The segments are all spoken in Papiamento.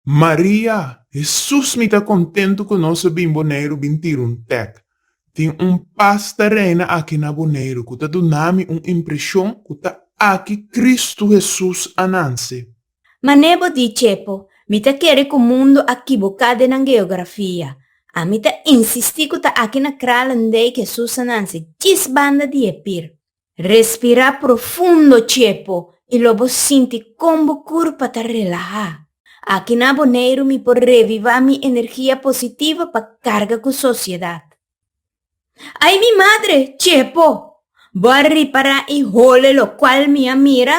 Maria, Hesus mi ta kontentu ku nos a bin Boneiru bin tira un tèk. Tin un pas ta reina aki na Boneiru ku ta duna mi un impreshon ku ta aki Kristu Hesus a nanse. Ma Nebo di, Chepo, mi ta kere ku mundu a kiboká den nan geografia. Ami ta insistí ku ta aki na Kralendijk e susanan si djis banda di e pir. Respirá profundo, Chepo, i lo bo sinti kon bo kurpa ta relahá. Aki na Boneiru mi por revivá mi energia positivo pa karga ku sosiedat. Ai mi madre, Chepo! Bo a ripará e hole lokual mi a mira?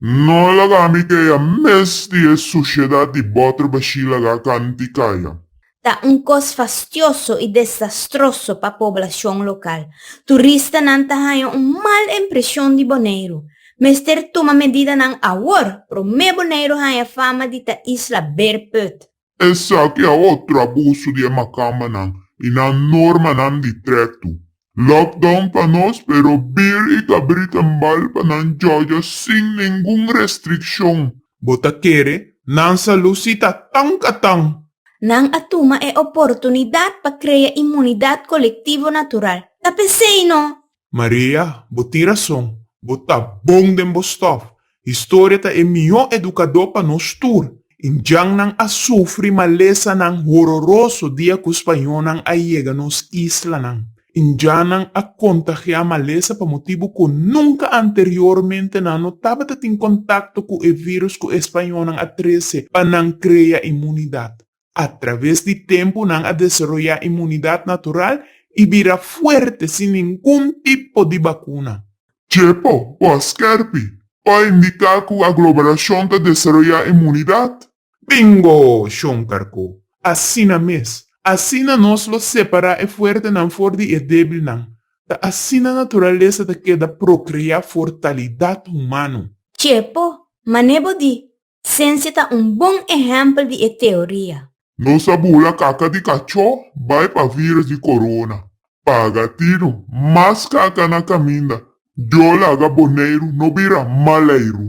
No a laga ami kaya mes di e sushedad di boter bashí laga kanti kaya. Ta un kos fastioso i desastroso pa poblashon lokal. Turistanan ta haña un mal impreshon di Boneiru. Mester tuma medidanan awor, promé Boneiru haña fama di ta isla beerput. Esaki a otro abuso di e macambanan y nan normanan di treto. Lockdown pa nos, pero bir y cabrita nbal pa nan jojo sin ningun restriccion. Bo ta kere nan salud si ta tan ka tan? Nan a tuma e oportunidad pa crea inmunidad colectivo natural. Ta p'esey no Maria, bo tin rason. Bo ta bon den bo stòf. Historia ta e mihó edukadó pa nos tur. Indiannan a sufri malesanan hororoso dia ku spañónan a yega nos islanan. Indiannan a kontagiá malesa pa motibu ku nunka anteriormente nan no tabata tin kontakto ku e virus ku e spañónan a trese pa nan krea imunidat. A traves di tempu nan a desaroyá imunidat natural i bira fuerte sin ningun tipo di bakuna. Chepo, bo a skerpi pa a indiká ku aglomerashon ta desaroyá imunidat? Bingo, Shonkarko! Asina mes. Asina nos lo separá e fuertenan for di e débilnan. Ta asina naturalesa ta keda prokreá fortalidat humano. Chepo, mané bo di Sensia ta un bon ehèmpel di e teoria. Nos a bula kaka di kachó bai pa vírùs di korona. Paga tinu mas kaka na kaminda. Dios laga Boneiru no bira Maleiru.